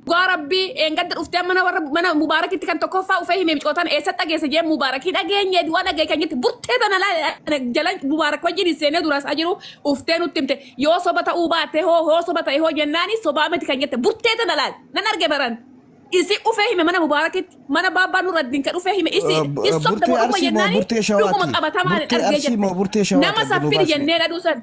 Dhugaa rabbii eengadda dhuftee mana warra mana mubaarakitti kan tokkoffaa ufee hime micootan eessatti dhageesse jee mubaarakii dhageenye du'a dhagee kan jette burtee tana laa jala mubaarak wajjin hin seenee duraas ajiru uftee nutti himte yoo soba ta'uu baate hoo hoo soba ta'e hoo jennaani sobaa miti kan jette burtee tana laa nan arge baran isi ufee hime mana mubaarakitti mana baabbaa nurra dinka dhufee hime isi Uh, bu- hin sobda burtee boruma arsii moo jennaani burtee shawaati? dhuguma qabatamaan Burtee argee arsii moo burtee jette shawaati nama adda saffiri nubaasne? jennee dhaduu san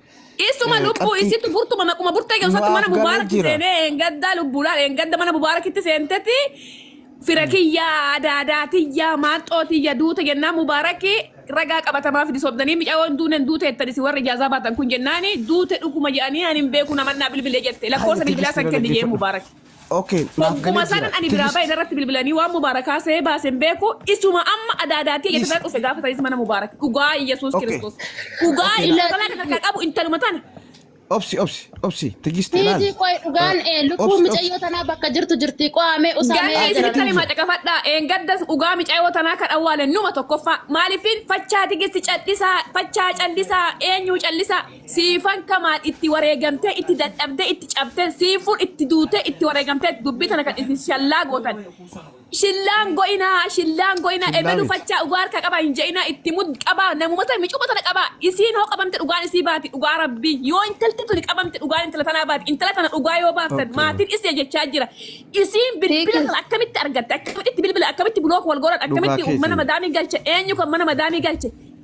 Isuma Eh, lubbuu qabxii- isitu furtuma maquma burtee Nu keessatti mana afgalee mubaarakti jira. seenee eengaddaa lubbuudhaan eengadda mana mubaarakitti seentetti fira kiyyaa adaadaa tiyyaa maaxxoo tiyya duuta jennaan mubaarakii ragaa qabatamaa fidi sobdanii micaawwan duuneen duute jettan isin warri ijaazaa baatan kun jennaani duute dhuguma jedhanii ani hin beeku namannaa bilbilee jette lakkoofsa bilbilaa san kenni jee mubaarakii. Ok naaf Hogguma galee sanan jira. ani biraa Tigist. bahe narratti bilbilanii waan mubaarakaa see baase hin beeku isuma amma adaadaatii Tigist. jettana dhufe gaafa sanis mana mubaarak dhugaa Yesuus Ok. Kiristoos dhugaa Ok na intalaa kan harkaa qabu intaluma tana obsi obsi obsi tigist ilaal. Niitii qoy dhugaan ee Obsi lubbuun obsi. micayyoo tanaa bakka jirtu jirti qo'amee usaamee Ganda Tigist isin jira. kan himaa caqafadhaa eengaddas dhugaa micaayoo tanaa kan awwaale numa tokkoffaa maaliifin fachaa tigisti callisaa fachaa callisaa eenyuu callisaa Siifan Kamaal itti wareegamtee, itti dadhabdee, itti cabtee, Siifun itti duutee, itti wareegamteetti dubbii tana kan isin shallaa gootan. Shillaa hin go'inaa, shillaa hin go'inaa, Shillaa ebelu miti. fachaa dhugaa harkaa qabaa hin je'inaa, itti mud qabaa, namuma tana, micuma tana qabaa. Isiin hoo qabamte dhugaan isii baati, dhugaa Rabbii. Yoo intalti tuni qabamte dhugaan intala tanaa baati. Intala tana dhugaa yoo baaftan, Okay. maatiin isii jechaa jira. Isiin bilbila Tiikis. tana akkamitti argatte, akkamitti itti bilbila, akkamitti block wal godhan, Dhugaa akkamitti kee mana seenaa. madaamii galche, eenyu kan mana madaamii galche.